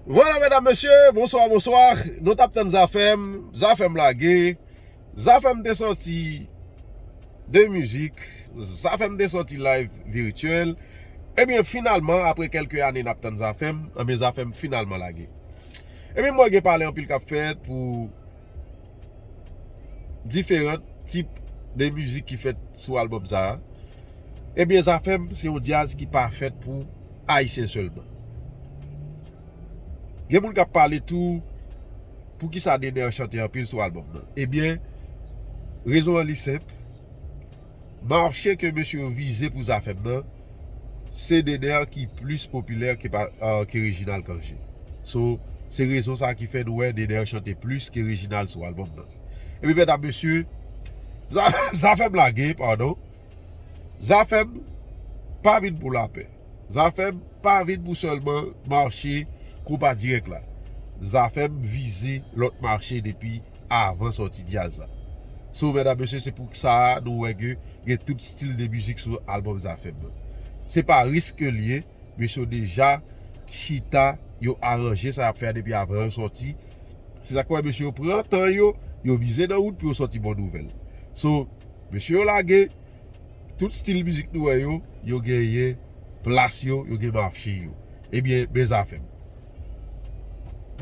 Voilà mesdames messieurs bonsoir bonsoir nou tap tann zafèm zafèm lage zafèm te sòti de mizik zafèm te sòti live virtuel ebyen finalman apre kelke ane nap tann zafèm ebyen zafèm finalman lage ebyen mwen gen pale anpil kap fèt pou diferan tip de mizik ki fèt sou albòm sa a, ebyen Zafèm se yon djaz ki pa fèt pou Ayisyen sèlman. Gen moun k ap pale tou poukisa Dener chante anpil sou albòm nan. Ebyen, rezon an li senp. Marché ke mesye yo vize pou Zafèm nan, se Dener ki plis popilè ke Reginald Cange. So, se rezon sa ki fè nou wè Dener chante plis ke Reginald sou albòm nan. Epi medam mesye, Zafèm lage, padon, Zafèm pa vin pou lapè. Zafem pa vin pou selman marche konpa direk la. Zafem vize lot marche depi avan soti djaz la. So medam mesye se pou sa nou we ke gen tout stil de mizik sou album Zafem nan. Se pa risk ke liye, mesye yo deja chita yo aranje sa yap fe a depi avan yo soti. Se sak we mesye yo pran tan yo, yo mize nan wout pou yo soti bon nouvel. So mesye yo lage. Tout stil mizik nou wè yo, yo genyen plas yo, yo gen mache yo. Ebyen, men zafèm.